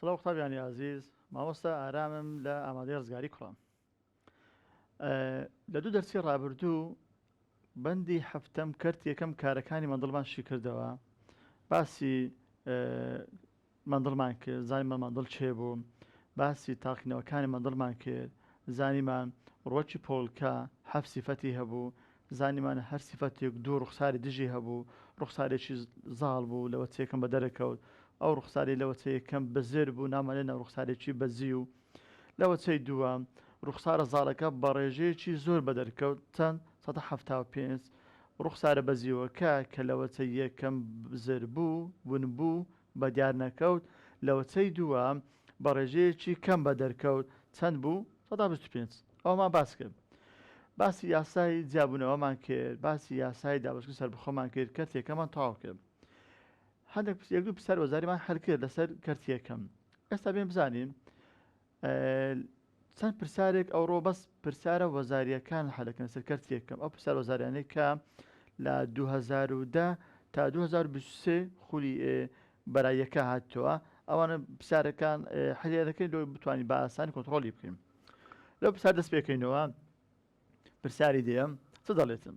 سڵاو قوتابیانی ئازیز ماوەستا ئارامم لە ئامادەی ڕزگاری کوڕم لە دوو دەرسی ڕابردوو بەندی هەفتم کرد یەکەم کارەکانی مەندڵمان شیکردەوە باسی مندڵمان کرد زانیمان مندڵ کێ بوو باسی تاقیکردنەوەکانی مندڵمان کرد زانیمان ڕوەکی پۆلکە حەفت سیفەتی هەبوو زانیمان هەر سیفەتێک دوو ڕوخساری دژی هەبوو ڕوخسارێکی زاڵ بوو لە وەچەیەکەم بەدەرەکەوت ئەو ڕوخساری لە وەچەیەکەم بزر بوو نامانێ ناو ڕوخسارێکی بەزیو لە وەچەی دووەم، ڕووخسارە زاڵەکە بە ڕێژەیەکی زۆر بە دەرکەوت، چەند سەدا حەفتا و پێنج، ڕووخسارە بەزیوەکە کە لە وەچەی یەکەم بزر بوو، ون بوو، بە دیار نەکەوت، لە وەچەی دووەم بە ڕێژەیەکی کەم بە دەرکەوت، چەند بوو؟ سەدا بیست و پێنج. ئەوەمان باس کرد. باسی یاسای جیابوونەوەمان کرد، باسی یاسای دابەشکردنی سەربەخۆمان کرد، کەرتی یەکەممان تەواو کرد. هەندێک پرسیەک پرسیار وەزاریمان هەرکرد لەسەر کەرتی یەکەم ئێستا بێن بزانین چەند پرسیارێک ئەوڕۆ بەس پرسیارە وەزاریەکان حەلەکەن سەر کەرتی یەکەم ئەو پرسیار وەزاریانەی کە لە 2010 تا 2023 خولی بەرایەکە هاتووە ئەوانە پرسیارەکان حلێ دەکەین لۆ بتوانین بە ئاسانی کۆنتترۆلی بکەین لەو پرسیار دەست پێکەینەوە پرسیاری دێم چ دەڵێتن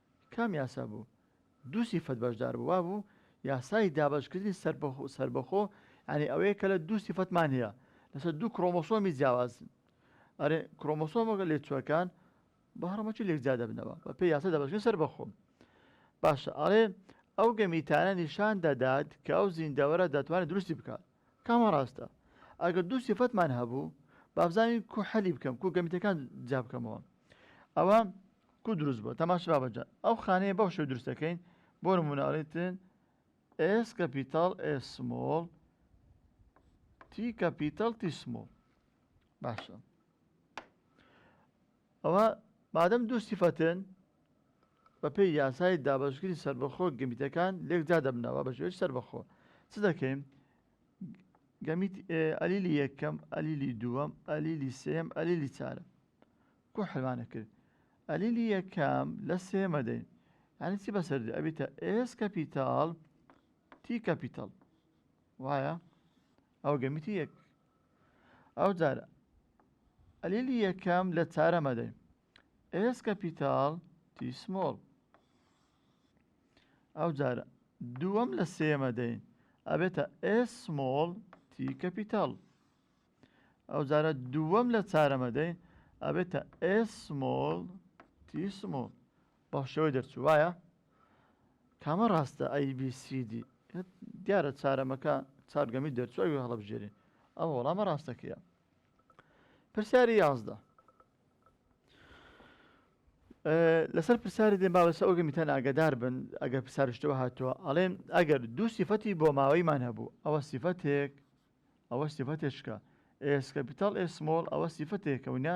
کام یاسا بوو؟ دوو سیفەت بەشدار بوو وا بوو یاسای دابەشکردنی سەربەخۆ یانی ئەوەیە کە لە دوو سیفەتمان هەیە لەسەر دوو کرۆمۆسۆمی جیاواز ئەرێ کرۆمۆسۆمەکە لێکچووەکان بە هەڕەمەکی لێکجیا دەبنەوە بە پێی یاسای دابەشکردنی سەربەخۆ باشە ئەڵێ ئەو گەمیتانە نیشان دەدات کە ئەو زیندەوەرە دەتوانێت دروستی بکات کامە ڕاستە؟ ئەگەر دوو سیفەتمان هەبوو بابزانین کو حەلی بکەم کو گەمیتەکان جیا بکەمەوە ئەوە کو دروست بووە تەماش بابەجان ئەو خانەیە بەو شێو دروستەکەین بۆ نموناڵیتن ئێس کەپیتال ئێسمۆڵ تی کەپیتال تیسمۆڵ باشە ئەوا مادەم دوو سیفەتن بە پێی یاسای دابەشکردنی سەربەخۆ گەمیتەکان لێک جا دەبنەوە بە شێوەی سەربەخۆ چ دەکەین گەمیت ئەلیلی یەکەم ئەلیلی دووەم ئەلیلی سێم ئەلیلی چارە کو حلمانە کرد ئەلیلی یەکەم لە سێمە دەین یعنی چی بەسەر دێ ئەبیتە ئێس کەپیتال تی کەپیتال وایە ئەو گەمیتی یەک ئەو جار ئەلیلی یەکەم لە چارە مەدەی ئێس کەپیتال تی سمۆڵ ئەو جارە دووەم لە سێمە دەین ئەبێتە ئێس سمۆڵ تی کەپیتال ئەو جارە دووەم لە چارەمە دەین ئەبێتە ئێس سمۆڵ تی سمۆڵ بەڵشێوەی دەرچوو وایە؟ کامە ڕاستە ئەی بی سی دی دیارە چارەمەکە چار گەمی دەرچوو ئەوی هەڵەبژێری ئەو وەڵامە ڕاستەکەیە پرسیاری یازدە لەسەر پرسیاری دێن باوەسە ئەوگە میتان ئاگدار بن ئەگەر پرسیارشتەوە هاتووە ئەڵێن ئەگەر دوو سیفەتی بۆ ماوەیمان هەبوو ئەوە سیفەتێک ئەوە سیفەتێشکە ئێسکە پیتال ئێسمۆڵ ئەوە سیفەتێکەونە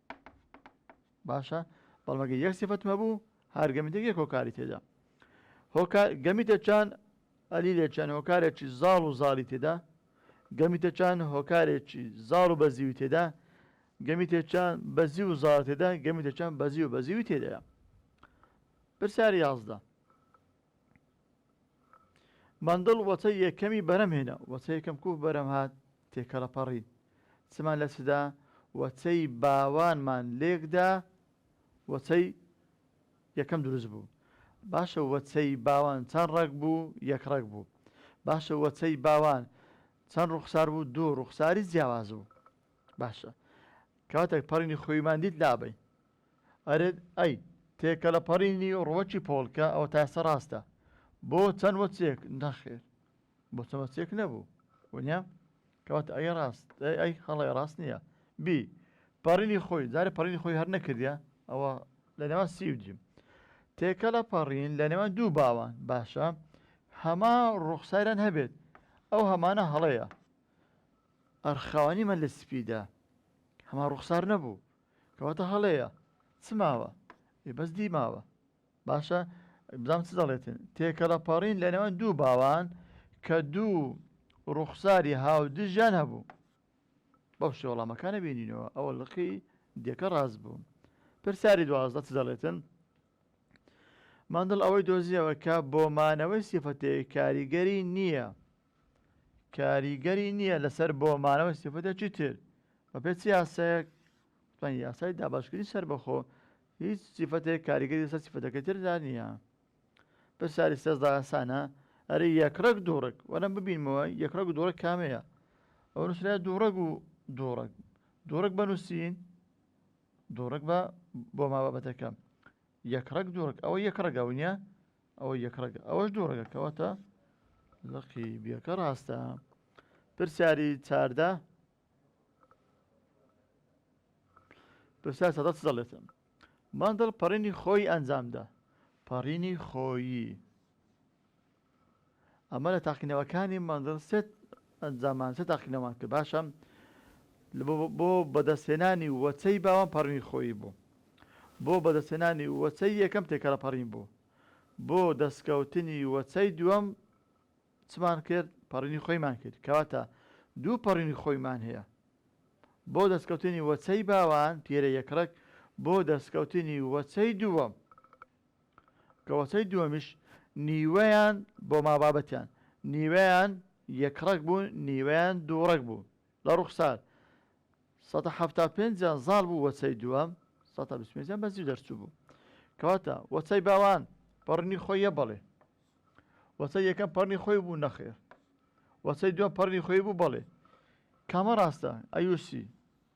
باشە بەڵمەگە یەک سفەتم هەبوو هەر گەمیتێک یەک هۆکاری تێدا هۆکار گەمیتە چان ئەلی لێ چەند هۆکارێکی زاڵ و زاڵی تێدا گەمیتە چان هۆکارێکی زاڵ و بەزیوی تێدا گەمیتە چان بەزی و زاڵ تێدا گەمیتە چەند بەزی و بەزیوی تێدایە پرسیار یازدە مەندڵ وەچەی یەکەمی بەرەم هێنا، وەچەی یەکەم کوو بەرەم هات، تێکەڵە پەڕی. چمان لە چدا؟ وەچەی باوانمان لێک دا، وەچەی یەکەم دروست بوو. باشە وەچەی باوان چەند ڕەگ بوو؟ یەک ڕەگ بوو. باشە وەچەی باوان چەند ڕووخسار بوو؟ دوو ڕووخساری جیاواز بوو. باشە کاتێک پەڕینی خوویمان دیت لابەین، ئەرێ ئەی تێکەلەپەڕینی ڕوەکی پۆڵکە ئەوەتا ئێستا ڕاستە بۆ چەند وەچێک نەخێر بۆ چەند وەچێک نەبوو وەنیا کەواتە ئەگەر ڕاست ئەی هەڵێ ڕاست نییە بی پەڕینی خۆی جارە پەڕینی خۆی هەر نەکردە ئەوە لە نێوان سی و جیم تێکە لە پەڕین لە نێوان دوو باوان باشە هەما ڕوخساران هەبێت ئەو هەمانە هەڵەیە ئەرخاوانی من لە سپیدا هەما ڕوخسار نەبوو کەواتە هەڵەیە چ ماوە ئێ بەس دی ماوە باشە بزانام چ دەڵێتن تێکەڵەپەڕین لە نێوان دوو باوان کە دوو ڕوخساری هاودژیان هەبوو بەو شێ وەڵامەکانە بینینەوە ئەوە لقی دێکە ڕاست بوو پرسیاری دوازدە چ دەڵێتن ماندڵ ئەوەی دۆزیەوە کە بۆ مانەوەی سیفەتەیە کاریگەری نییە کاریگەری نییە لەسەر بۆ مانەوەی سیفەتێکی تر بە پێ چ یاسایەک وتمان یاسای دابەشکردنی سەربەخۆ هیچ سیفەتێک کاریگەری لەسەر سیفەتەکەی تردا نییە پرسیاری سێزدە ئاسانە ئەرێ یەکڕەک دووڕک وەرەم ببینمەوە یەکڕەک و دووڕک کامەیە ئەو نووسرا دووڕەک و دووڕک دووڕک بەنووسین دووڕک بە بۆ ما بابەتەکەم یەک ڕەگ دوو ڕەگ ئەوە یەک ڕەگە ونیە ئەوە یەک ڕەگە ئەوەش دوو ڕەگە کەواتە لەقی بیەکە ڕاستە پرسیاری چاردە پرسیار سەدە چ دەڵێتم ماندڵ پەڕینی خۆی ئەنجامدا پەڕینی خۆیی ئەمە لە تاقینەوەکانی مەندڵ سێت ئەنجاممان سێ تاقینەوەمان کرد باشە بۆ بەدەستهێنانی وەچەی باوان پەڕینی خۆیی بوو بۆ بەدەستهێنانی وەچەی یەکەم تێکەڵە پەڕین بوو بۆ دەستکەوتنی وەچەی دووەم چمان کرد پەڕینی خۆیمان کرد کەواتە دوو پەڕینی خۆیمان هەیە بۆ دەستکەوتنی وەچەی باوان پیرە یەکڕک بۆ دەستکەوتنی وەچەی دووەم کەوەستەی دووەمیش نیوەیان بۆ مابابەتیان نیوەیان یەک ڕەگ بوو نیوەیان دوو ڕەگ بوو لە ڕوخسار سەد و حەفتا و پێنج یان زاڵ بوو وەچەی دووەم سەد تا بیست و پێنج یان بەزیو دەرچوو بوو کەواتە وەچەی باوان پەڕنی خۆی یە بەڵێ وەچەی یەکەم پەڕنی خۆی بوو نەخێر وەچەی دووەم پەڕنی خۆی بوو بەڵێ کامە ڕاستە ئەیوسی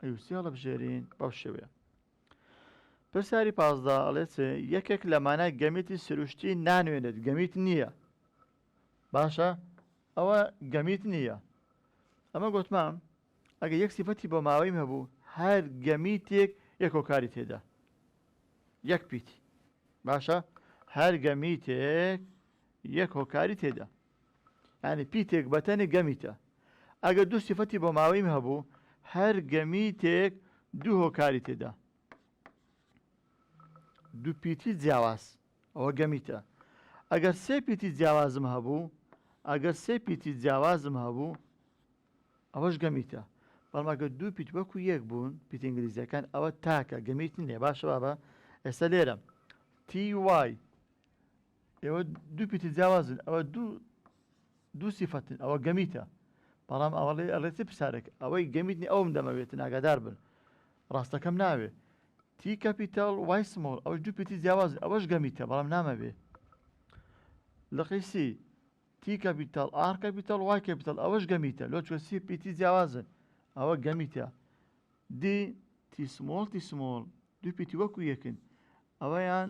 ئەیوسی هەڵەبژێرین بەو شێوەیە پرسیاری پازدە، ئەڵێت یەکێک لە مانای گەمیتی سروشتی نانوێنێت گەمیت نییە باشە ئەوە گەمیت نییە ئەمە گوتمام ئەگە یەک سیفەتی بۆ ماوەیم هەبوو هەر گەمیتێک یەکۆکاری تێدا یەک پیتی باشە هەر گەمیتێک یەک هۆکاری تێدا یانی پیتێک بەتەنێ گەمیتە. ئەگەر دوو سیفەتی بۆماوەییم هەبوو، هەر گەمیتێک دوو هۆکاری تێدا. دوو پیتی جیاواز، ئەوە گەمیتە. ئەگەر سێ پیتی جیاوازم هەبوو، ئەگەر سێ پیتی جیاوازم هەبوو، ئەوەش گەمیتە. بەڵام ئەگەر دوو پیت وەکو یەک بوون، پیتە ئینگلیزییەکان، ئەوە تاکە گەمیت نییە. باشە بابە ئێستا لێرە، تی وای، ئێوە دوو پیتی جیاوازن ئەوە دوو دوو سیفەتن ئەوە گەمیتە بەڵام ئەوڵێ ئەڵێ چ پرسارێک ئەوەی گەمیتنی ئەوم دەمەوێتن ئاگادار بن ڕاستەکەم ناوێ تی کەپیتال وای سمۆڵ ئەوش دوو پیتی جیاواز ئەوەش گەمیتە بەڵام نامەوێ لەقیسی تی کەپیتال ئار کەپیتال وای کەپیتال ئەوەش گەمیتە لۆ چۆسی پیتی جیاوازن ئەوە گەمیتە دی تی سمۆڵ تی سمۆڵ دوو پیتی وەکو یەکن ئەوەیان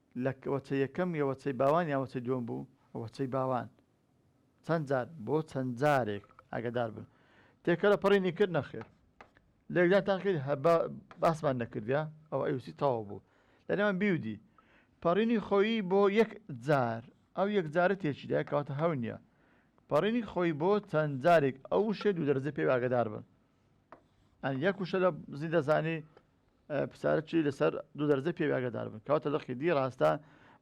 لە وەچەی یەکەم یە وەچەی باوان یان وەچەی دووەم بوو؟ وەچەی باوان چەند جار بۆ چەند جارێک ئاگەدار بن تێکەلە پەڕینی کرد نەخێر لێکدانتان کرد هە با باسمان نەکردیا ئەوە ئەوسی تەواو بوو لە نێوان بیودی پەڕینی خۆیی بۆ یەک جار ئەو یەک جارە تێکیدا کەواتە هەو نییە پەڕینی خۆی بۆ چەند جارێک ئەو شێ دوو دەرزە پێ ئاگەدار بن ئەن یەک وشە لە زیندەزانی پسارە چی لە سەر دوو دەرزە پێوی ئاگادار بن کەواتە لقی دی ڕاستە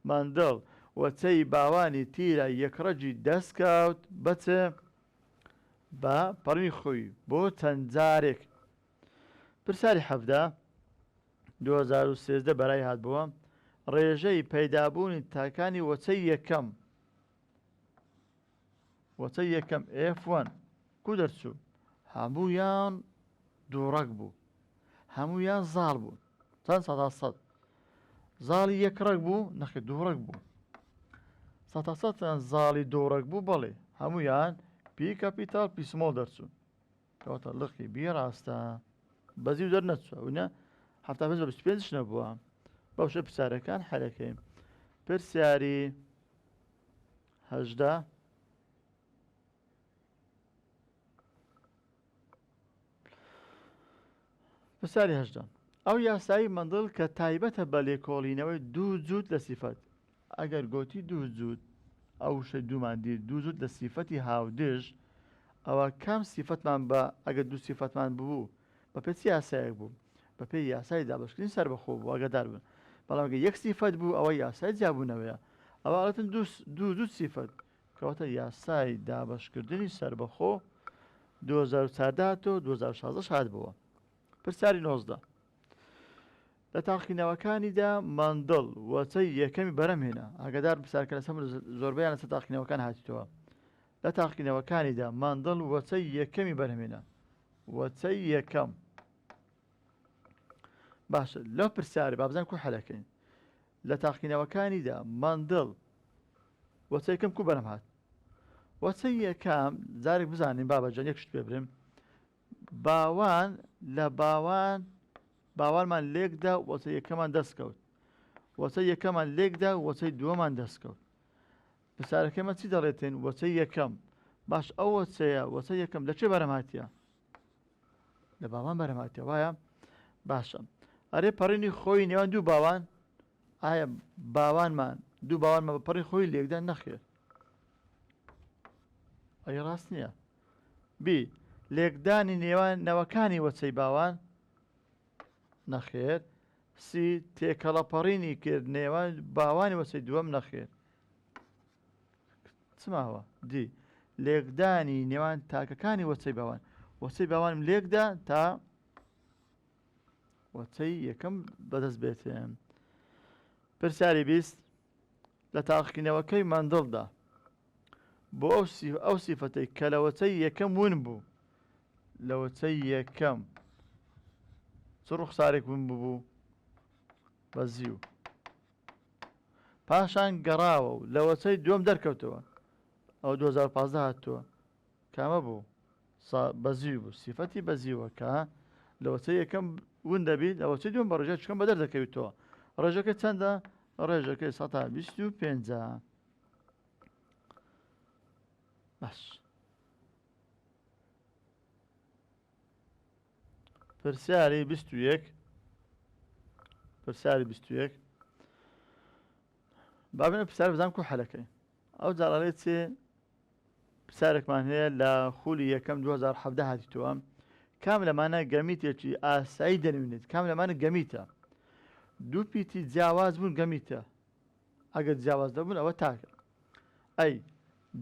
ماندڵ و چەی باوانی تیرە یەکڕەجی دەست کەوت بە چ بە پەڕوی خوی بۆ چەند جارێک پرساری حەفدە 2013 بەرای هات بووە ڕێژەی پەیدابوونی تاکانی وەچەی یەکەم وتە یەکەم ئێف وەن کو دەرچوو هەموویان دووڕەک بوو هەموویان زاڵ بوون چەند سەدا سەد زاڵی یەک ڕەگ بوو نەخی دووڕەک بوو سەتا سەتیان زاڵی دووڕەک بوو بەڵێ هەموویان پی کەپیتال پیسمۆڵ دەرچوون کەواتە لقی بی ڕاستە بەزی و دەرنەچوە ونە هەفتا پێ بیست پێنج نەبووە بەوشە پرسیارەکان حەلەکەین پرسیاری هەژدە. پرسیاری هەژدە. ئەو یاسایی مندڵ کە تایبەتە بە لێکۆڵینەوەی دوو جووت لە سیفەت ئەگەر گۆتی دوو جووت ئەو شە دوومان دیر دوو جووت لە سیفەتی هاودێژ ئەوە کام سیفەتمان بە ئەگە دوو سیفەتمان ببوو بەپێ چ یاسایەک بوو؟ بەپێی یاسای دابەشکردنی سەربەخۆ بوو ئاگادار بن، بەڵام گەر یەک سیفەت بوو ئەوە یاسای جیابوونەوەیە ئەوە ئەڵێتن دوو دوو سیفەت کەواتە یاسای دابەشکردنی سەربەخۆ 2014 هاتەوە 2016 هاتبووە پرسیاری نۆزدە لە تاقینەوەکانیدا ماندڵ وەچەی یەکەمی بەرەم هێنا ئاگدار بسارکە لە سەم زۆربیان لەسە تاقینەوەکان هاتیتەوە لە تاقینەوەکانیدا ماندڵ وەچەی یەکەمی بەرهمێنە وتەی یەکەم باشە لەو پرسیارە بابزان کو حەلەکەین لە تاقینەوەکانیدا مندڵ وەچەکەم کو بەرەم هات وەچە یەکەم جارێک بزانین بابەجان یەکشت پێ برم باوان لە باوان باوانمان لێکدا وەچە یەکەمان دەستکەوت وەچە یەکەمان لێکدا وەچەی دووەمان دەستکەوت پرسیارەکەی من چی دەڵێتێن وەچەی یەکەم باش ئەو وەچەیە وەچە یەکەم لە چێ بەرەم هاتیە لە باوان بەرەم هاتیە وایە باشە ئەرێ پەڕینی خۆی نێوان دوو باوان ئایا باوانمان دوو باوانمە بە پەڕی خۆی لێکدان نەخێر ئەی ڕاست نییە بی لێکدانی نێوان نەوەکانی وەچەی باوان نەخێر سی تێکەڵەپەڕینی کرد نێوان باوانی وەچەی دووەم نەخێر چماوە دی لێکدانی نێوان تاکەکانی وەچەی باوان وەچەی باوانم لێکدا تا وەچەی یەکەم بەدەست بێتێن پرسیاری بیست لە تاقینەوەکەی مندڵدا بۆ ئەو ئەو سیفەتەی کە لەوەچەی یەکەم ون بوو لەوەچەی یەکەم چ ڕوخسارێک ون ببوو بە زیو پاشان گەڕاوە و لە وەچەی دووەم دەرکەوتەوە ئەو 2015 هاتووە کامە بوو بەزیوی بوو سیفەتی بەزیوەکە لە وەچە یەکەم ون دەبیت لە وەچە دوم بە ڕژە چکەم بە دەردەکەویتەوە ڕێژەکە چەندە ڕێژەکەی 125 بەس پرسیاری بیست و یەک پرسیاری بیست و یەک بابنە پرسیار بزان کو حەلەکەی ئەو جاڕێ چێ پرسیارێکمان هەیە لە خولی یەکەم 2017 هاتیتەوە کام لەمانە گەمیتێکی ئاسایی دەنوێنێت کام لەمانە گەمیتە دوو پیتی جیاواز بوون گەمیتە ئەگەر جیاواز دەبوون ئەوە تاکە ئەی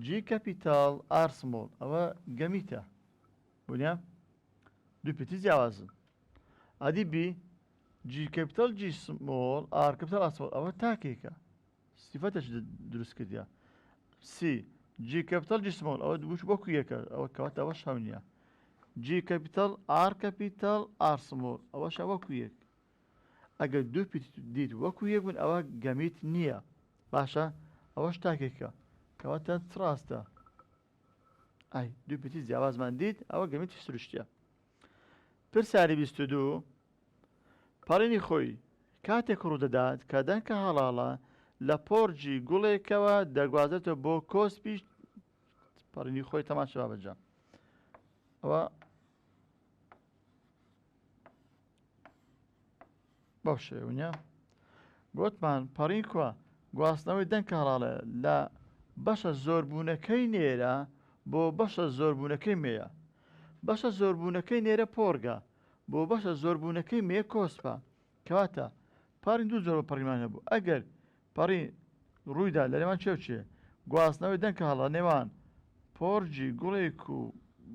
جی کەپیتال ئارسمۆڵ ئەوە گەمیتە بونیە دوو پێتی جیاوازن ئەدی بی جی کەپتەل جی سمۆڵ ئار کەپتەل ئاسمۆڵ ئەوە تاکێکە سیفەتەش دروست کردە سی جی کەپتەل جی سمۆڵ ئەوە دووش وەکو یەکە ئەوە کەوات ئەوە شەو نییە جی کەپیتەل ئار کەپیتەل ئارسمۆر ئەوە شەوەکو یەک ئەگەر دوو دیت وەکو یەک بوون ئەوە گەمیت نییە باشە ئەوەش تاکێکە کەواتە تراستە ئای دوو پیتی جیاوازمان دیت ئەوە گەمێکی سروشتیە پرسیاری بیست و دوو پەڕینی خۆی کاتێک ڕوودەدات کە دەنکە هەڵاڵە لە پۆرجی گوڵێکەوە دەگوازێتەوە بۆ کۆسپی پەڕینی خۆی تەماشا بەجام ئەوە بەو شێونە گوتمان پەڕین کوە گواستنەوەی دەنگ کاڕاڵێ لە بەشە زۆربوونەکەی نێرە بۆ بەشە زۆربوونەکەی مێە بەشە زۆربوونەکەی نێرە پۆرگە بۆ بەشە زۆربوونەکەی مێ کۆسپە کەواتە پارین دوو زۆر پەڕیمان هەبوو ئەگەر پەڕی ڕوویدا لە نێوان چێو چێ گواستنەوەی دەنگ هەڵە نێوان پۆرجی گوڵێک و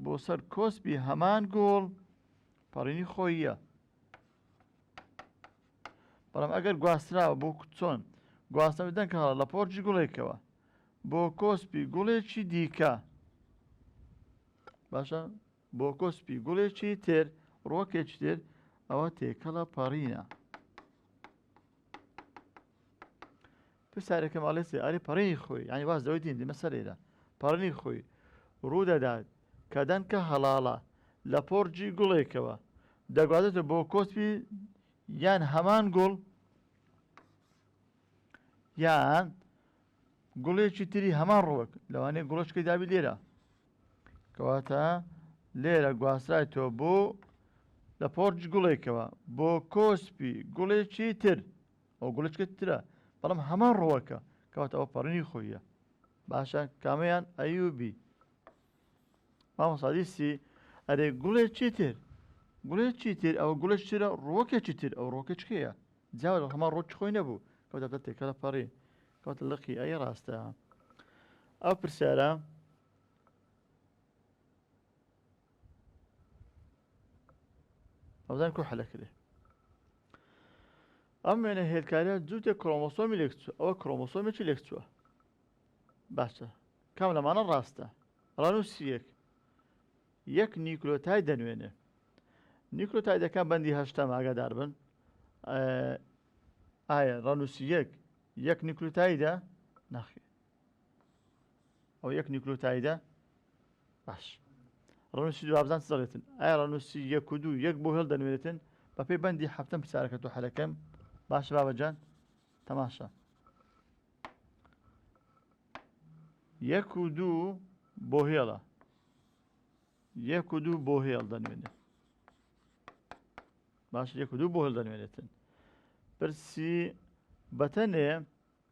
بۆ سەر کۆسپی هەمان گۆڵ پەڕینی خۆییە بەڵام ئەگەر گواستراوە بۆ چۆن گواستنەوە دەنگ هەڵە لە پۆرجی گوڵێکەوە بۆ کۆسپی گوڵێکی دیکە باشە بۆ کۆسپی گوڵێکی تر ڕۆکێکی تر ئەوە تێکەڵە پەڕینە پرسیارەکەم ئەڵێ سێ ئاری پەڕینی خۆی یانی واز لەوەی دین دیمە سەرەیرە پەڕنی خۆی ڕوودەدات کە دەنکە هەڵاڵە لە پۆڕجی گوڵێکەوە دەگوازێتە بۆ کۆسپی یان هەمان گوڵ یان گوڵێکی تری هەمان ڕوەک لەوانەیە گوڵشکی دابی لێرە کەواتە لێرە گواستای تۆ بۆ لە پۆرج گوڵێکەوە بۆ کۆسپی گوڵێکی تر ئەو گوڵچکە ترە بەڵام هەمان ڕوەکە کەواتە ئەو پەڕنی خۆیە باشە کامەیان ئەیوبی مامەسادیسی ئەرێ گوڵێ چیتر گوڵێ چیتر ئەوە گوڵە چرە ڕۆکە چیتر ئەو ڕۆکە چکەیە جا هەمان ڕۆچ خۆی نەبوو کەوتە دە تێکەڵە پەڕی کەوتە لەقی ئەی ڕاستە ئەو پرسیارە ئەوزان کو حەلە کرێ ئەم وێنە هێلکارە جووتێک کرۆمۆسۆمی لێک چوە ئەوە کرۆمۆسۆمێکی لێک چووە باشە کام لەمانە ڕاستە ڕانوسیەک یەک نیکلۆتای دەنوێنێ نیکلۆتای دەکان بەندی هەشتا ئاگادار بن ئایا ڕانوسی یەک یەک نیکلوتایدا ناخێ ئەو یەک نیکلۆتایدە باش ڕنووسی دوابزان دەڵێتن ئایا ڕنووسی یەک و دوو یەک بۆ هێڵ دەنوێتن بەپی بەندی هەفتم پرسیارەکە تۆ حەلەکەم باش بابەجان تەماشا یەک و دوو بۆ هێڵە یەک و دوو بۆ هێڵ دەنوێنێت باش یەک و دوو بۆ هێڵ دەنوێنێتن پرسی بەتەنێ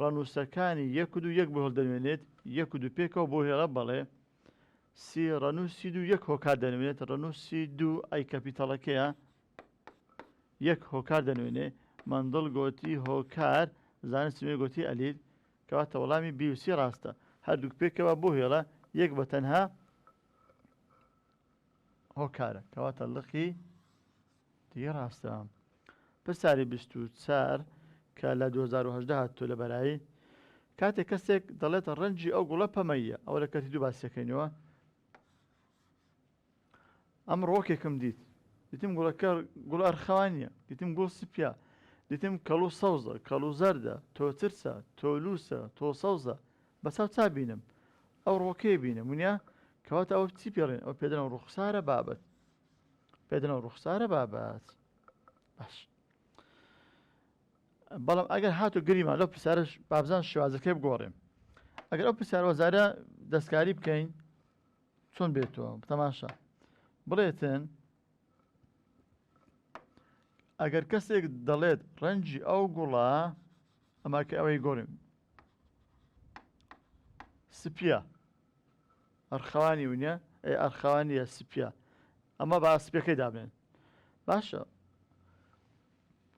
ڕەنووسەکانی یەک و دوو یەک بۆ هەڵدەنوێنێت، یەک و دوو پێکەوە بۆ هێڵە بەڵێ. سی ڕەنووسی دوو یەک هۆکار دەنوێنێت، ڕەنووسی دوو ئەی کەپیتەڵەکەیە یەک هۆکار دەنوێنێ، مەندڵ گۆتی هۆکار، زانستی نوێ گۆتی ئەلیل. کەواتە وەڵامی بی و سی ڕاستە. هەردووک پێکەوە بۆ هێڵە، یەک بە تەنها هۆکارە کەواتە لقی دی ڕاستە پرسیاری بیست و چار کە لە 2010 هاتوو لە بەرایی کاتێک کەسێک دەڵێت ڕەنجی ئەو گوڵە پەمەیە ئەو لە کەتی دوو باسیەکەینەوە ئەم ڕۆکێکم دیت دیتم گوڵەکە گوڵ ئەرخەوانیە دیتم گوڵ سپیا دیتم کەڵ و سەوزە کەڵ و زەردە تۆ ترسە تۆ لووسە تۆ سەوزە بەچاو چا بینم ئەو ڕۆکەی بینم ونیا کەواتە ئەوە چی پێڕێن ئەو پێدەنەوە ڕوخسارە بابەت پێدەنەوە ڕوخسارە بابەت باش بەڵام ئەگەر هاتو گریمان لەو پرسیارش بابزان شێوازەکەی بگۆڕێم ئەگەر ئەو پرسیار وەزارە دەستکاری بکەین چۆن بێتەوە تەماشا بڵێتن ئەگەر کەسێک دەڵێت ڕەنجی ئەو گوڵە ئەمە کە ئەوەی گۆرم سپیە ئەرخەوانی ونە ئەی ئەرخەوانیە سپیە ئەمە با سپەکەی دابێن باشە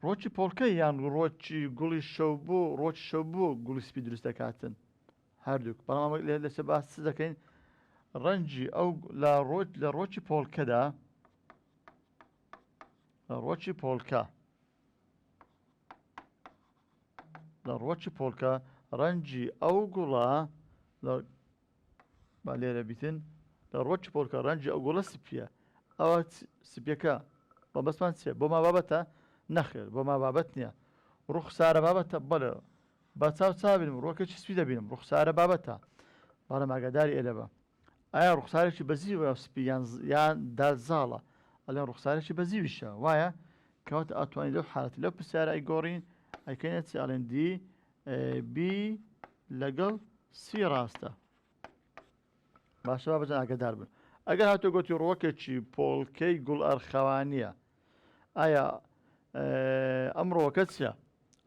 ڕۆکی پۆڵکە یان ڕۆکی گوڵی شەو بۆ ڕۆکی شەو بۆ گوڵی سپی دروست دەکاتن هەردووک، بەڵام ئەوەی لێ لەسەر باس چ دەکەین ڕەنجی ئەو لە ڕۆت لە ڕۆکی پۆڵکەدا لە ڕۆکی پۆڵکە لە ڕۆکی پۆڵکە ڕەنجی ئەو گوڵە با لێرە بیتن لە ڕۆکی پۆڵکە ڕەنجی ئەو گوڵە سپیە ئەوە سپیەکە بە بەسمان چێ بۆ ما بابەتە نەخێر بۆ ما بابەت نییە ڕوخسارە بابەتە بەڵێ با چاو چابینم ڕووەکە چی سپی دەبینم ڕوخسارە بابەتە بەڵام ئاگاداری ئێلە بە ئایا ڕوخسارێکی بەزی وە سپی یان یان دا زاڵە ئەلێن ڕوخسارێکی بەزیویشە وایە کەواتە ئاتوانی لەو حالەتی لەو پرسیارە ئەی گۆڕین ئەیکەینە چی ئەڵێن دی بی لەگەڵ سی ڕاستە باشە بابەتە ئاگادار بن ئەگەر هاتو گۆتی ڕووەکێکی پۆڵکەی گوڵ ئەرخەوانیە ئایا ئەم ڕۆکە چیە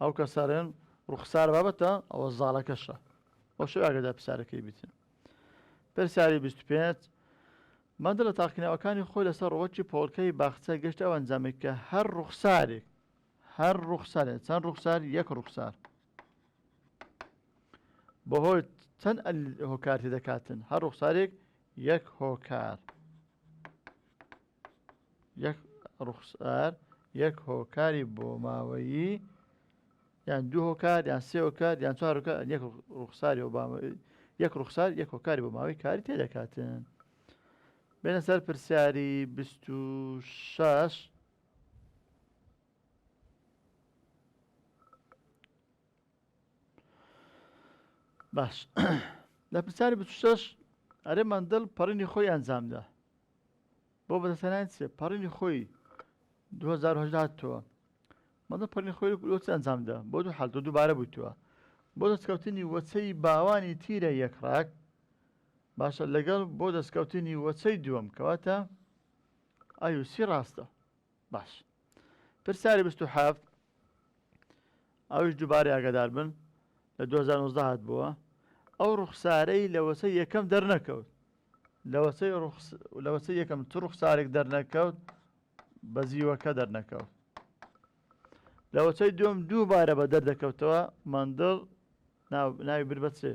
ئەو کە سارێن ڕوخسار بابەتە ئەوە زاڵەکەشە ئەو شو ئاگەدا پسارەکەی بتن پرسیاری 25 مادە لە تاقینەوەکانی خۆی لەسەر ڕۆکی پۆڵکەی باخچە گەشت ئەو ئەنجامێک کە هەر ڕوخسارێک هەر ڕوخسارێ چەند ڕوخسار یەک ڕوخسار بەهۆی چەند هۆکارتی دەکاتن هەر ڕوخسارێک یەک هۆکار یەک ڕوخسار یەک هۆکاری بۆماوەیی یان دوو هۆکار یان سێ هۆکار یان چوار هۆکار یەک ڕوخساری ئۆباما یەک ڕوخسار یەک هۆکاری بۆماوەی کاری تێدەکاتن بێنە سەر پرسیاری 26 باش لە پرسیاری 26 ئەرێ مندڵ پەڕینی خۆی ئەنجامدا بۆ بەدەستهێنانی چ پەڕینی خۆی 2010 هاتووە مەدە پەڕین خۆی لۆ چ ئەنجام دا بۆ دوو حالتۆ دووبارە بووتوە بۆ دەستکەوتنی وەچەی باوانی تیرە یەک ڕاک باشە لەگەڵ بۆ دەستکەوتنی وەچەی دووەم کەواتە ئایوسی ڕاستە باش پرسیاری بیست و حەفت ئەویش دووبارەی ئاگادار بن لە دوو هەزار و نۆزدە هاتبووە ئەو ڕوخسارەی لە وەسەی یەکەم دەرنەکەوت لە وەسەی ڕوخس لە وەسەی یەکەم چ ڕوخسارێک دەرنەکەوت بە زیوەکە دەرنەکەوت لە وەسەی دوم دووبارە بە دەردەکەوتەوە مندڵ ناو- ناوی بر بە چێ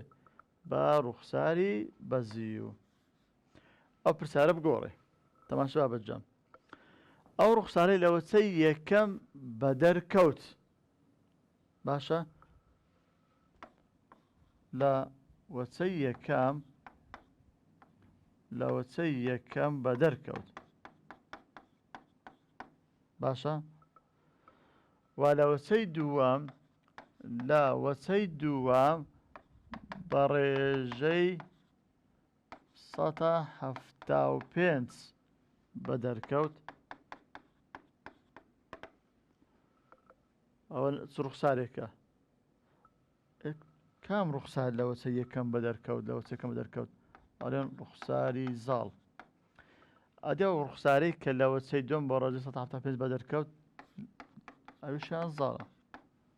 بە ڕوخساری بە زیو ئەو پرسیارە بگۆڕێ تەماشا بە جەم ئەو ڕوخسارەی لە وەچەی یەکەم بە دەرکەوت باشە لە وەچەی یەکەم لە وەچەی یەکەم بە دەرکەوت باشە وا لە وەچەی دووەم لە وەچەی دووەم بە ڕێژەی سەتا حەفتا و پێنج بە دەرکەوت ئەوە چ ڕوخسارێکە کام ڕوخسار لەوەچە یەکەم بە دەرکەوت لەوە چەکەم بە دەرکەوت ئەڵێن ڕوخساری زاڵ ئەدە و ڕوخسارەی کە لەوە چەی دۆم بە ڕۆژە سە پێ بە دەرکەوت ئەوشیان زاڵە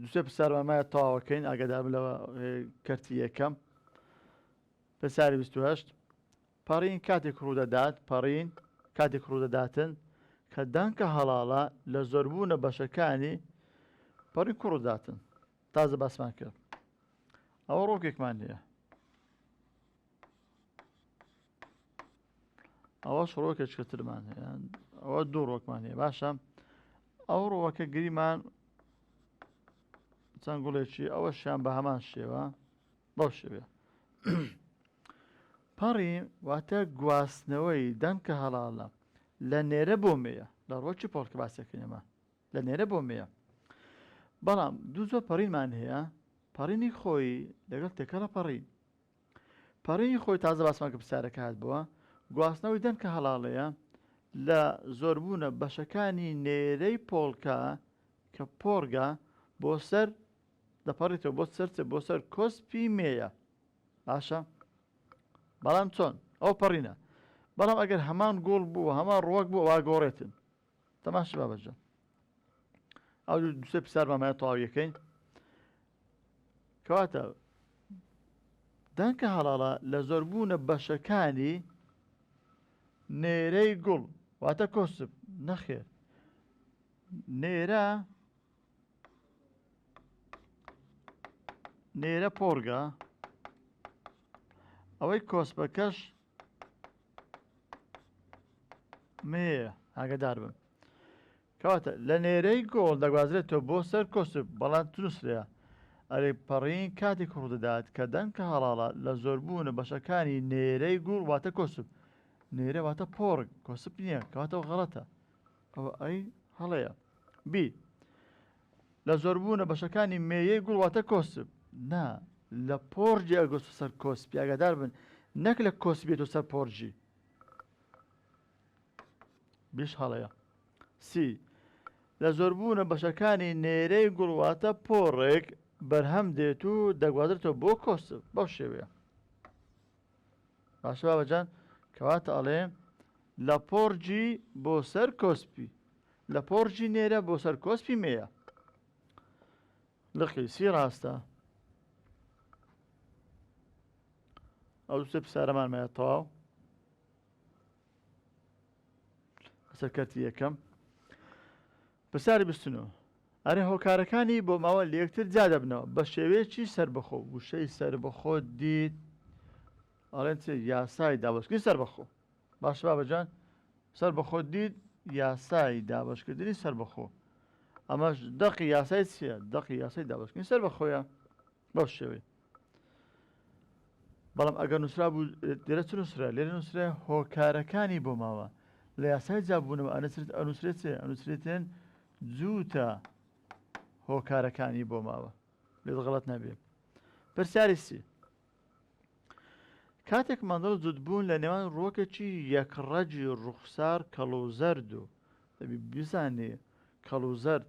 دوسێ پرسیارمان مایە تەواوەکەین ئاگادار بن لەوە کەرتی یەکەم پرسیاری 28 پەڕین کاتێک ڕوودەدات پەڕین کاتێک ڕوودەداتن کە دانکە هەڵاڵە لە زۆربوونە بەشەکانی پەڕی کوڕداتن تازە باسمان کرد ئەوە ڕۆکێکمان هەیە ئەوە شڕۆکێکە ترمان هەیە ئەوە دوو ڕۆکمان هەیە باشە ئەو ڕۆوەکە گریمان چەند گوڵێکی ئەوە شیان بە هەمان شێوە بەو شێوێ پەڕی واتە گواستنەوەی دەنکە هەڵاڵە لە نێرە بۆ مێە لە ڕۆکی پۆڵکە باسەکەینەمە لە نێرە بۆ مێە بەڵام دوو زۆر پەڕینمان هەیە پەڕینی خۆی لەگەڵ تێکەڵە پەڕین پەڕینی خۆی تازە باسمان کرد پرسیارەکە هات بۆ گواستنەوەی دەنگ کە هەڵاڵەیە لە زۆربوونە بەشەکانی نێرەی پۆڵکە کە پۆڕگە بۆ سەر دەپەڕێتەوە بۆ سەر چ بۆ سەر کۆسپی مێیە باشە بەڵام چۆن ئەو پەڕینە بەڵام ئەگەر هەمان گۆڵ بوو هەمان ڕۆک بوو وا گۆڕێتن تەماشی بابەجە ئەو دوسێ پرسیار بامایە تەواویەکەی کەواتە دەنکە هەڵاڵە لە زۆربوونە بەشەکانی نێرەی گوڵ واتە کۆسب نەخێر نێرە نێرە پۆرگە ئەوەی کۆسپەکەش مێیە ئاگدار بن کەواتە لە نێرەی گۆڵ دەگوازرێتەوە بۆ سەر کۆسب بەڵام تونسرە ئەرێ پەڕین کاتێک ڕوودەدات کە دەنکە هەڵاڵە لە زۆربوونە بەشەکانی نێرەی گوڵ واتە کۆسب نێرە واتە پۆڕک کۆسب نییە کەواتەوە غەڵەتە ئەوە ئەی هەڵەیە بی لە زۆربوونە بەشەکانی مێیەی گوڵ واتە کۆسپ. نا، لە پۆڕجی ئەگۆستۆ سەر کۆسپی، ئاگادار بن نەک لە کۆسپیەوە سەر پۆڕجی. بیش هەڵەیە. سی، لە زۆربوونە بەشەکانی نێرەی گوڵ واتە پۆڕێک بەرهەم دێت و دەگوازرێتەوە بۆ کۆسپ، بەو شێوەیە. باشە بابەجان کەواتە ئەڵێ لە پۆرجی بۆ سەر کۆسپی لە پۆرجی نێرە بۆ سەر کۆسپی مێە لەقی سی ڕاستە ئەو دوسێ پسارەمان مایە تەواو سەرکەتی یەکەم پرسیار بیست و نۆ، ئەرێ هۆکارەکانی بۆماوە لەیەکتر جیادەبنەوە بەشێوەیەکی سەربەخۆ، وشەی سەربەخۆ دیت ئەڵێن چ یاسای دابەشکردنی سەربەخۆ باشە بابەجان سەربەخۆ دیت یاسای دابەشکردنی سەربەخۆ ئەمەش دەقی یاسای چیە دەقی یاسای دابەشکردنی سەربەخۆیە. بەو شێوەی بەڵام ئەگەر نووسرا بوو دێرە چ نووسرا لێ نووسرا هۆکارەکانی بۆ ماوە لە یاسای جابوونەوە ئەنەسرت ئەنووسرێتێ ئەنووسرێتێن جووتە هۆکارەکانی بۆ ماوە لێ غڵەت نەبێت پرسیاری سی کاتێک مندڵ جوتبوون لە نێوان ڕۆکێکی یەکڕەجی ڕوخسار کەڵوزەرد و دەبی بزانێ کەڵوزەرد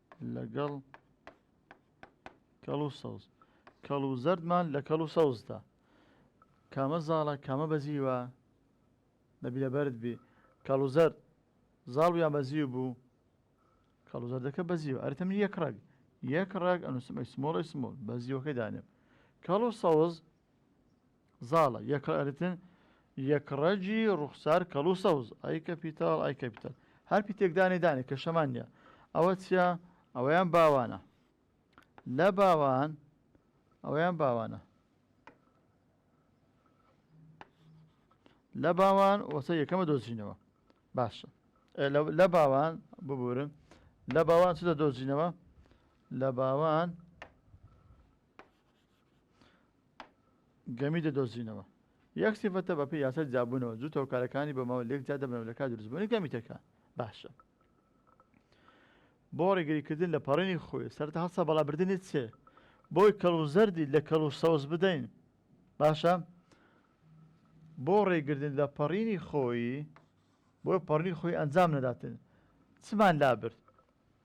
لەگەڵ کەڵ و سەوز کەڵ و زەردمان لە کەڵ و سەوزدا کامە زاڵە کامە بەزیوە نەبیلە بەرد بێ کەڵ و زەرد زاڵ یان بەزیو بوو کەڵ و زەردەکە بەزیوە ئەرتە من یەک ڕەگ یەک ڕێک ئەنووسمە سمۆڵی سمۆل بەزیوەکەی دانێم کەڵ و سەوز زاڵە یەکڕ ئەرتن یەکڕەجی ڕوخسار کەڵ و سەوز ئای کە پیتاڵ ئای کە پیتەڵ هەر پیتێک دانێ دانێ کە شەمان نیە ئەوە چیە ئەوەیان باوانە لە باوان ئەوەیان باوانە لە باوان وەسە یەکەمە دۆزینەوە باشە لە باوان ببورن لە باوان چ دە دۆزینەوە لە باوان گەمی دەدۆزینەوە یەک سیفەتە بە پێی یاسای جیاببوونەوە جووت هۆکارەکانی بە ماوە لێک جیا دەبنەوە لە کات دروستبوونی گەمی تەکە باشە بۆ ڕێگریکردن لە پەڕێنی خۆی سەرتا هەستا بەڵابردنی چێ بۆی کەڵ و زەردی لە کەڵ و سەوز بدەین باشە بۆ ڕێگردن لە پەڕینی خۆی بۆ پەڕنی خۆی ئەنجام نەداتن چمان لابرد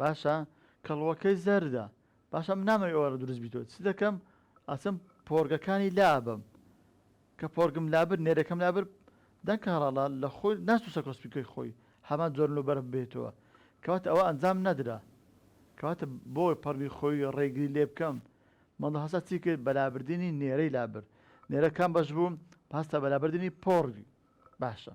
باشە کەڵوەکەی زەردە. باشە من نامەوێ ئەوە دروست بیتەوە چ دەکەم ئەچم پۆرگەکانی لا ئەبەم کە پۆرگم لابرد نێرەکەم لابرد دەنگ کارەڵا لە خۆی ناچوسە کۆسپیکەی خۆی هەمان جۆر لۆ بەرف بێتەوە کەواتە ئەوە ئەنجام نەدرا کەواتە بۆ پەڕگی خۆی ڕێگری لێ بکەم مەڵ هەسا چی کرد بەلابردنی نێرەی لابرد نێرە کام بەش بوو پاستا بەلابردنی پۆڕگی باشە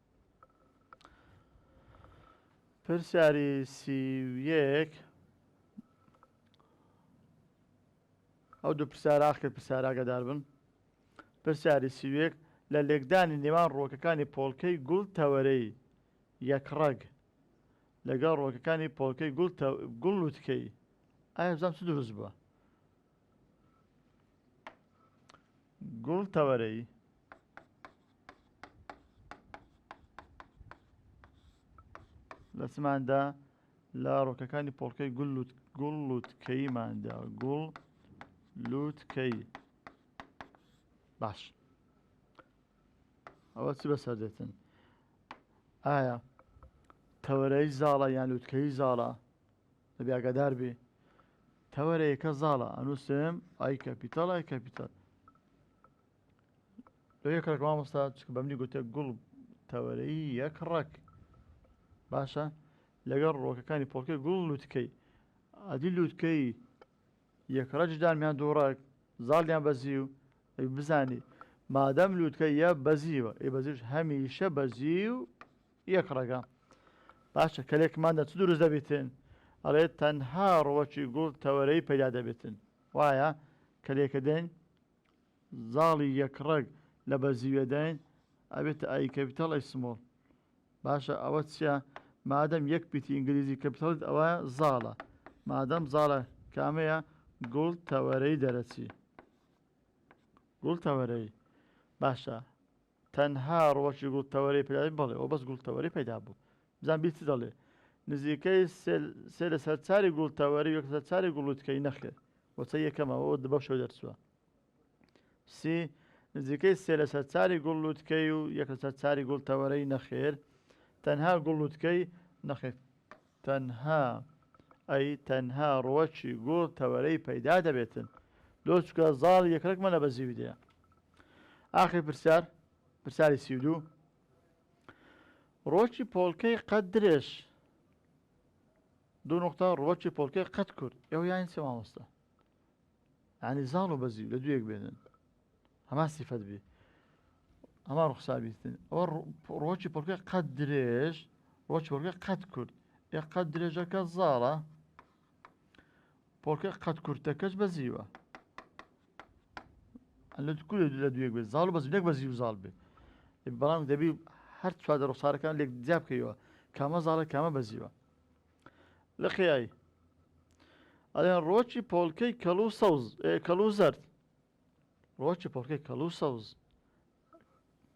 پرسیاری سی و یەک ئەو دوو پرسیار ئاخ کرد پرسیار ئاگادار بن پرسیاری سی و یەک لە لێکدانی نێوان ڕووەکەکانی پۆڵکەی گوڵ تەوەرەی یەکڕەگ لەگەڵ ڕووەکەکانی پۆڵکەی گوڵ تە گوڵ لووتکەیی ئایا بزانم چ دروست بووە گوڵ تەوەرەی لە چماندا لە ڕۆکەکانی پۆڵکەی گول گوڵ لوتکەیماندا گوڵ لوتکەی باش ئەوە چی بەسەر دێتن ئایا تەوەرەی زاڵە یان لوتکەی زاڵە دەبێ ئاگادار بێ تەوەرە یەکە زاڵە ئەنووسێم ئای کەپیتال ئای کەپیتال لە یەک ڕێک مامۆستا چکە بەمنی گوتە گوڵ تەوەرەی یەک ڕەک باشە لەگەڵ ڕۆکەکانی پۆڵکە گوڵ لوتکەی ئەدی لوتکەی یەکڕەجدامیان دووڕک زاڵیان بەزی و بزانی مادەم لوتکە یە بەزیوە ئێ بەزیش هەمیشە بەزی و یەک ڕەگە باشە کەلێک مادە چ دروست دەبیتن ئەڵێت تەنها ڕوەکی گوڵ تەوەرەی پەیدا دەبێتن وایە کەلێکە دەین زاڵی یەک ڕەگ لە بەزیوێداین ئەبێت ئای کەپیتال ئەی سمۆڵ باشە ئەوە چیە مادەم یەک پیتی ئینگلیزی کەپیتالت ئەوە زاڵە مادەم زاڵە کامەیە گوڵ تەوەرەی دەرەچی گوڵ تەوەرەی باشە تەنها ڕوەکی گوڵ تەوەرەی پێدابێت بەڵێ ئەوە بەس گوڵ تەوەرەی پەیدا بوو بزان بیر چ دەڵێ نزیکەی سێ لە سەر چاری گوڵ تەوەری وەک لەسەر چاری گوڵوتکەی نەخێر وەچە یەکەمەوە ئەوە بەو شێو دەرچووە سی نزیکەی سێ لە سەر چاری گوڵ لوتکەی و یەک لەسەر چاری گوڵ تەوەرەی نەخێر تەنها گوڵ لوتکەی نەخێر تەنها ئەی تەنها ڕوەکی گوڵ تەوەرەی پەیدا دەبێتن لۆچکە زاڵی یەکرەک مەلە بە زیوی دێ ئاخی پرسیار پرسیاری سی و دوو ڕۆکی پۆڵکەی قەت درێژ دوو نقطە ڕوەکی پۆڵکەی قەت کورد ئێوە یانی چێ مامۆستا یانی زاڵ و بەزیو لە دوێک بێنن هەمان سیفەت بێ ئەما ڕوخسابیستن ئەوە ڕۆکی پڕکە قەت درێژ ڕۆکی وەرگە قەت کورد ئێ قەت درێژەکە زاڵە پۆکە قەت کورتەکەش بەزیوە لە کورە لە دوێک بێت زاڵ بەز نەک بەزی و زاڵ بێت بەڵام دەبی هەر چوادە ڕوخسارەکان لێک جیاب بکەیەوە کامە زاڵە کامە بەزیوە لقیای ئەڵێن ڕۆکی پۆڵکەی کەڵ و سەوز کەڵ و زەرد ڕۆکی پۆڵکەی کەڵ و سەوز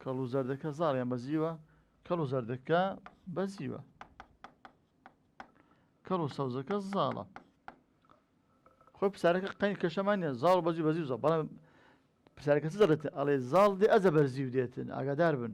کەڵ و زەردەکە زاڕیان بەزیوە کەڵ و زەردەکە بەزیوە کەڵ و سەوزەکە زاڵە خۆی پسارەکە قەین کەشەمان نیە زاڵ بەزی بەزی زە بەڵام پسارەکە دەڵێت ئەڵێ زاڵ دێ ئەزە بەرزی و دێتن ئاگادار بن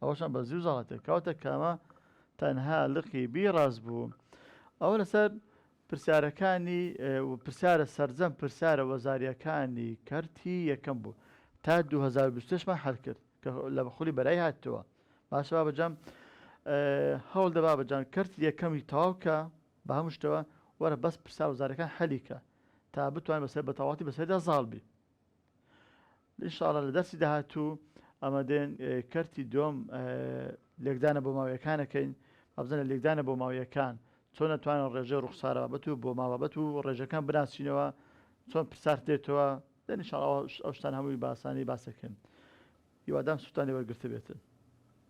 ئەوەشان بە زیو زەڵەتێک کەواتە کامە تەنها لقی بی ڕاست بوو ئەوە لەسەر پرسیارەکانی پرسیارە سەرجەم پرسیارە وەزاریەکانی کەرتی یەکەم بوو تا 2020مان هەر کرد کە لە بەخولی بەرای هاتەوە باشەوە بەجام هەوڵ دەبا بەجان کەرت یەکەمی تەواوکە بە هەم شتەوە وەرە بەس پرسا وزارەکان حەلیکە تا بتوان بەسەر بەتەواتی بەسەردا زاڵ بی ان شاء اللە لە دەرسی داهاتوو ئامادەین کەرتی دووەم لێکدانە بۆماویەکان ئەکەین با بزانین لە لێکدانە بۆماویەکان چۆن ئەتوانین ڕێژەی ڕوخسارە بابەت و بۆما بابەت و ڕێژەکان بناسینەوە چۆن پرسار دێتەوە ان شاء اللە ئەو شتان هەمووی بە ئاسانی باسەکەین هیوادارم سوودتان لێ وەرگرتبێتن